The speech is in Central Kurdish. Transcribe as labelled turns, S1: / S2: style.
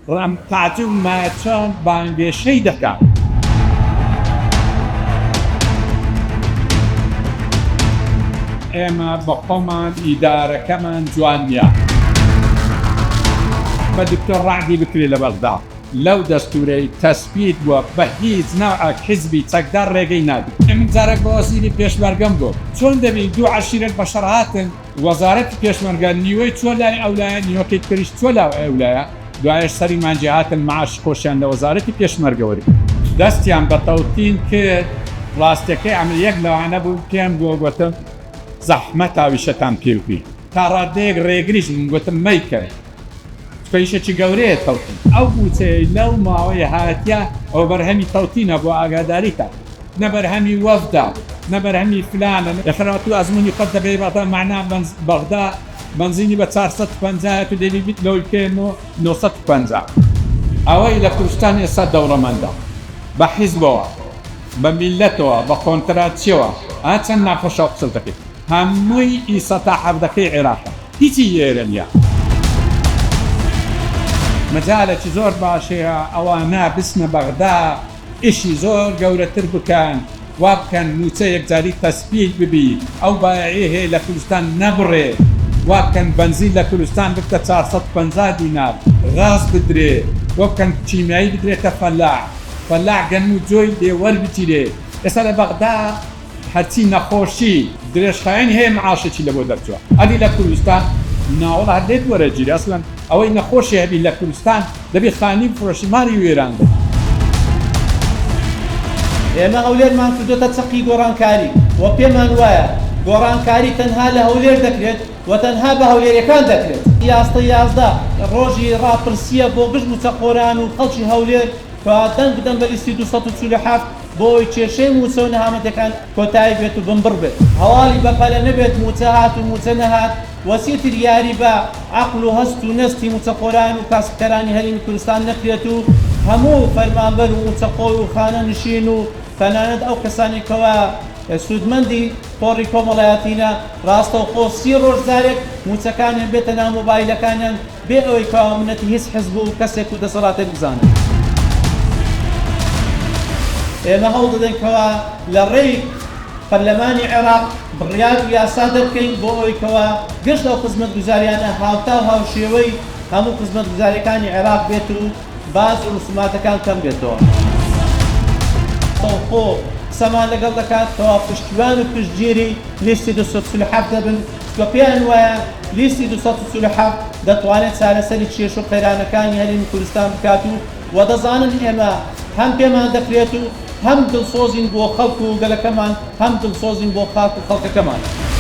S1: ڕام پاتر و ماچان بانگێشەی دەکات. ئێمە بەخۆمان ئیدارەکەمان جوان نیە. بە دکتۆر ڕەعدی بکرێ لە بەغدا لەو دەستورەی تەسبیت بوە بە هیچ نەوعەک حیزبی چەکدار ڕێگەی نادرێ. ئێمن جارەک بە وەزیری پێشمەرگەم گۆت چۆن دەبی دوو عەشیرەت بە شەڕ هاتن، وەزارەتی پێشمەرگە نیوەی چوە لای ئەولایە نیوەکەی تریش چوە لاو ئەولایە دوایەش سەری مانجی هاتن معاش خۆشیان لە وەزارەتی پێشمەرگە وەرگرت دەستیان بە تەوتین کرد ڕاستەکەی ئەمر یەک لەوانە بوو پێم گۆ گۆتم زەحمەت هاویشەتان پێوبی تا ڕادەیەک ڕێگریش بووم گۆتم مەیکەن. کێشەکی گەورەیە تەوتین ئەو بوچەیەی لەو ماوەیە هاتیە ئەوە بەرهەمی تەوتینە بۆ ئاگاداریتان نە بەرهەمی وەفدە نە بەرهەمی فلانە نە خەرات و ئەزمونی خۆت دەبەی بەغدا مەعنا بەغدا بەنزینی بە چار سەد و پەنجا یە تو دەبی بیت لۆی پێ نۆ نۆ سەد و پەنجا ئەوەی لە کوردستان ئێستا دەوڵەمەندە بە حیزبەوە بە میلەتەوە بە قۆنتراتچیەوە ئا چەند ناخۆشە ئەو قسەت دەکەی. هەمووی ئی سە تا حەڤدەکەی عێراقە هیچی لێرە نیە. مەجالەکی زۆر باشەیە ئەوانە بچنە بەغدا ئیشی زۆر گەورەتر بکەن وابکەن موچە یەکجاری تەسبیت ببی ئەو بایەعی هەیە لە کولستان نەبڕێ وابکەن بەنزین لە کولستان ببتە چار سەد و پەنجا دینار غاز بدرێ وەبکەن کیمیایی بدرێتە فەلاح فەلاح گەنمو جۆی لێ وەربگیرێ ئێستا لە بەغدا هەرچی نەخۆشی درێژخایەنی هەیە معاشێکی لەبۆ دەرچوە ئەبی لە کوردستان ناوەڵا هەر لێت وەرەگیرێ ئەسڵەن ئەوەی نەخۆشی هەبی لە کوردستان دەبی خانی بفرۆشی ماڵی وێران بێ.
S2: ئێمە هەولێرمان کردۆتە چەقی گۆڕانکاری و پێمان وایە گۆڕانکاری تەنها لە هەولێر دەکرێت و تەنها بە هەولێریەکان دەکرێت. ئاستە یازدە ڕۆژی ڕاپرسیە بۆ گشت موچەخۆران و خەڵکی هەولێر کە دەنگ بدەن بە لیستی دوو سەد و چل و حەفت. بۆ ئەوەی کێشەی مووچە و نەهامەتیەکان کۆتایی بێت و بنبڕ بێت. هەواڵی بەپەلە نەبێت مووچە هات و مووچە نەهات و چیتر یاری بە عەقڵ و هەست و نەستی مووچەخۆران و کاسبکەرانی هەرێمی کوردستان نەکرێت و هەموو فەرمانبەر و مووچەخۆر و خانەنشین و تەنانەت ئەو کەسانەی کەوا سوودمەندی تۆڕی کۆمەڵایەتینە ڕاستەوخۆ سی ڕۆژ جارێک مووچەکانیان بێتە ناو مۆبایلەکانیان بێ ئەوەی کوا و منەتی هیچ حزب و کەسێک و دەسەڵاتێک بزانن. ئێمە هەوڵ دەدەین کوا لە ڕێی پەرلەمانی عێراق بڕیار و یاسا دەرکەین بۆ ئەوەی کوا گشت ئەو خزمەتگوزاریانە هاوتا و هاوشێوەی هەموو خزمەتگوزاریەکانی عێراق بێت و باج و ڕسوماتەکان کەم بێتەوە. سەوخۆ قسەمان لەگەڵ دەکات کوا پشتیوان و پشتگیری لیستی دوو سەد و چل و حەڤدە بن. کە پێیان وایە لیستی دوو سەد و چل و حەفت دەتوانێت چارەسەری کێشە و قەیرانەکانی هەرێمی کوردستان بکات و وە دەزانن ئێمە هەم پێمان دەکرێت و هەم دڵسۆزین بۆ خەڵک و گەلەکەمان هەم دڵسۆزین بۆ خاک و خەڵکەکەمان.